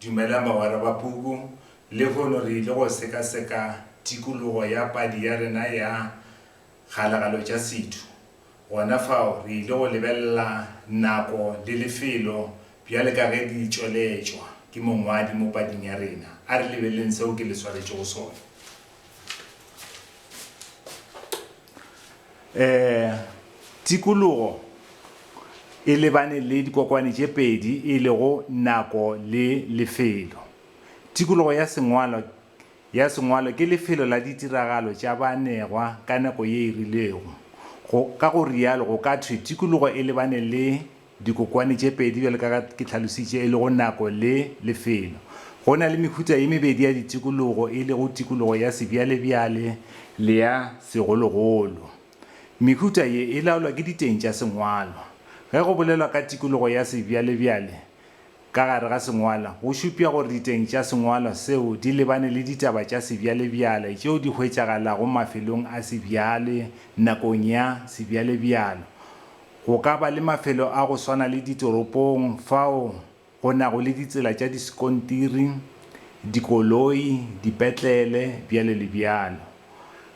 Dumelang bagwera ba puku. Lehono re ile go sekaseka tikologo ya padi ya rena ya Kgalagalo tša Setho. Gona fao re ile go lebelela nako le lefelo bjale ka ge di tšweletšwa ke mongwadi mo pading ya rena. A re lebeleleng seo ke le swaretšego sona. um tikologo e lebane le dikokwane tše pedi e lego nako le lefelo. Tikologo ya sengwalo ya sengwalo ke lefelo la ditiragalo tša baanegwa ka nako ye e rilego. Go, ka go rialo go ka thwe tikologo e lebane le Dikokwane tše pedi bjalo ka ga ke tlhalositše e lego nako le lefelo. Go na le mehuta ye mebedi ya ditikologo e lego tikologo ya sebjalebjale le ya segologolo. Mehuta ye e laolwa ke diteng tša sengwalwa. Ge go bolelwa ka tikologo ya sebjalebjale ka gare ga sengwalwa go šupša gore diteng tša sengwalwa seo di lebane le ditaba tša sebjalebjale tšeo di hwetšagalago mafelong a sebjale nakong ya sebjalebjalo Go ka ba le mafelo a go swana le ditoropong fao go nago le ditsela tša diskontiri, dikoloi, dipetlele, bjalo le bjalo.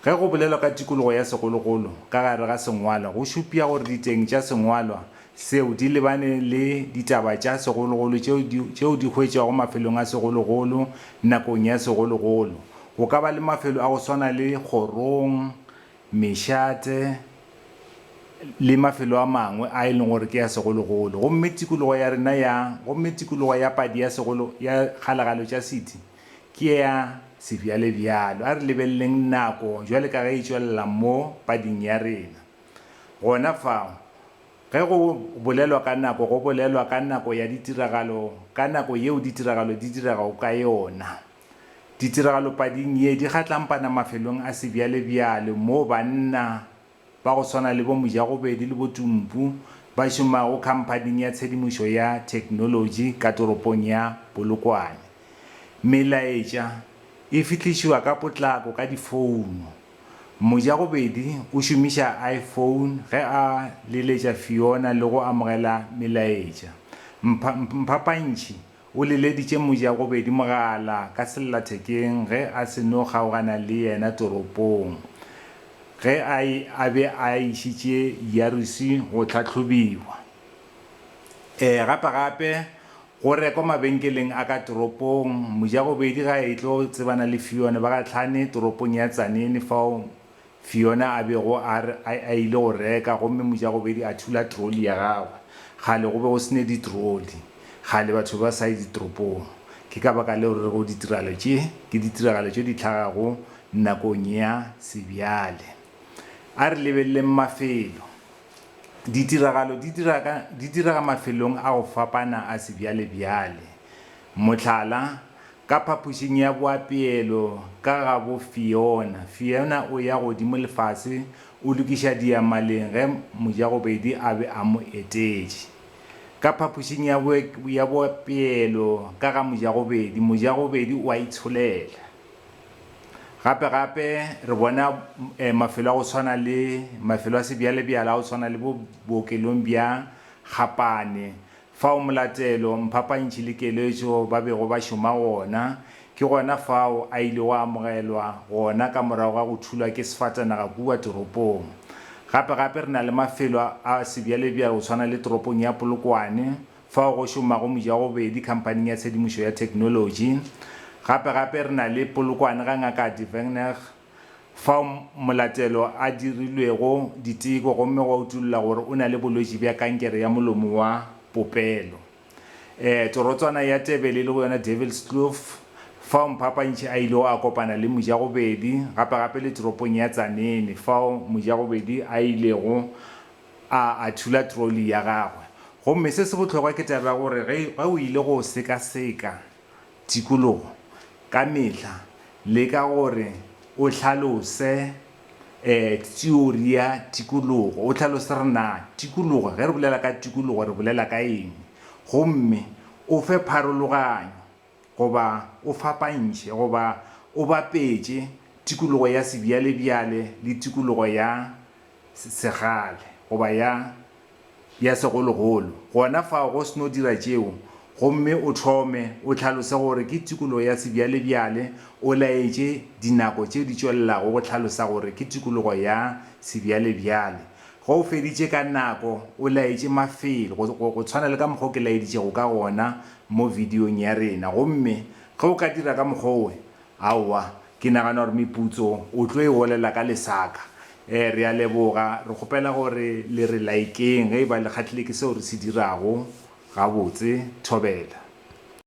Ge go bolelwa ka tikologo ya segologolo ka gare ga sengwalwa go šupša gore diteng tša sengwalwa seo di lebane le ditaba tša segologolo tšeo di hwetšwago mafelong a segologolo nakong ya segologolo. Go ka ba le mafelo a go swana le kgorong mešate le mafelo a mangwe a e leng gore ke a segologolo, gomme tikologo ya rena ya gomme tikologo ya padi ya segolo ya kgalagalo tša Siti ke ya sebjalebjalo. A re lebeleleng nako bjale ka ge e tšwelela mo pading ya rena. Gona fao, ge go bolelwa ka nako, go bolelwa ka nako ya ditiragalo, ka nako yeo ditiragalo di diregago ka yona. Ditiragalopading ye di gatlampana mafelong a sebjalebjale moo banna ba go swana le bo Mojagobedi le bo Tumpu ba šomago khamphaning ya tshedimošo ya theknolotši ka toropong ya Polokwane. Melaetša e fihlišiwa ka potlako ka difouno. Mojagobedi o šomiša iPhone ge a leletša Fiona le go amogela melaetša. Mphapantšhi O leleditše mojagobedi mogala ka sellathekeng ge a se no kgaogana le yena toropong ge a e a be a išitše Yarusi go tlhahlobiwa. Ee, gapegape, go rekwa mabenkeleng a ka toropong, mojagobedi ga a etlo tsebana le Fione ba gahlane toropong ya Tzaneen fao Fiona a bego a re a a ile go reka gomme mojagobedi a thula troli ya gagwe. Kgale go be go se ne ditroli. Kgale batho be ba sa ye ditoropong. Ke ka baka leo re rego ditiragalo tše ke ditiragalo tše di hlagago nakong ya sebjale. A re lebeleleng mafelo. Ditiragalo di dira ka, di direga mafelong a go fapana a sebjalebjale. Mohlala, ka phapošing ya boapeelo ka gabo Fiona, Fiona o ya godimo le fase o lokiša diamaleng ge Mojagobedi a be a mo etetše. Ka phapošing ya boapeelo ka ga Mojagobedi, Mojagobedi o a itsholela. Gape gape re bona mafelo a go swana le mafelo a sebjalebjale a go swana le bo bookelong bja Gapane Fao molatelo, mphapantšhi le keletšo ba bego ba šoma gona, ke gona fao a ilego a amogelwa gona ka morago ga go thulwa ke sefatanaga kua toropong. Gape-gape re na le mafelo a sebjalebjale go swana le toropong ya Polokwane, fao go šomago mojagobedi khamphaning ya tshedimošo ya theknolotši. Gape-gape re na le Polokwane ga Ngaka Devengnecht. Fao molatelo a dirilwego diteko gomme gwa utulla gore o na le bolwetši bja kankere ya molomo wa popelo. E, torotswana ya Tebele e lego yona Devilskloof, fao Mphapantšhi a ilego a kopana le Mojagobedi, gape-gape le toropong ya Tzaneen fao Mojagobedi a ilego a a thula trolli ya gagwe. Gomme se se bohlokwa ke taba ya gore ge o ile go sekaseka Tikologo ka mehla, leka gore o hlalose teori ya tikologo, o hlalose gore na tikologo, ge re bolela ka tikologo re bolela ka eng, gomme o fe pharologanyo goba o fapantšhe goba o bapetše tikologo ya sebjalebjale le tikologo ya segale goba ya ya segologolo. Gona fao go se no dira tšeo, gomme o hlome, o hlalose gore ke tikologo ya sebjalebjale, o laetše dinako tše di tšwelelago go hlalosa gore ke tikologo ya sebjalebjale. Ge o feditše ka nako, o laetše mafelo, go, go, go tshwana le ka mokgwa o ke laeditšego ka gona mo videong ya rena. Gomme ge o ka dira ka mokgwa wo, Aowa, ke nagana gore meputso o tlo e olela ka lesaka. Ee, re a leboga. Re kgopela gore le re laikeng ge e ba le kgahlile ke seo re se dirago. Gabotse. Thobela.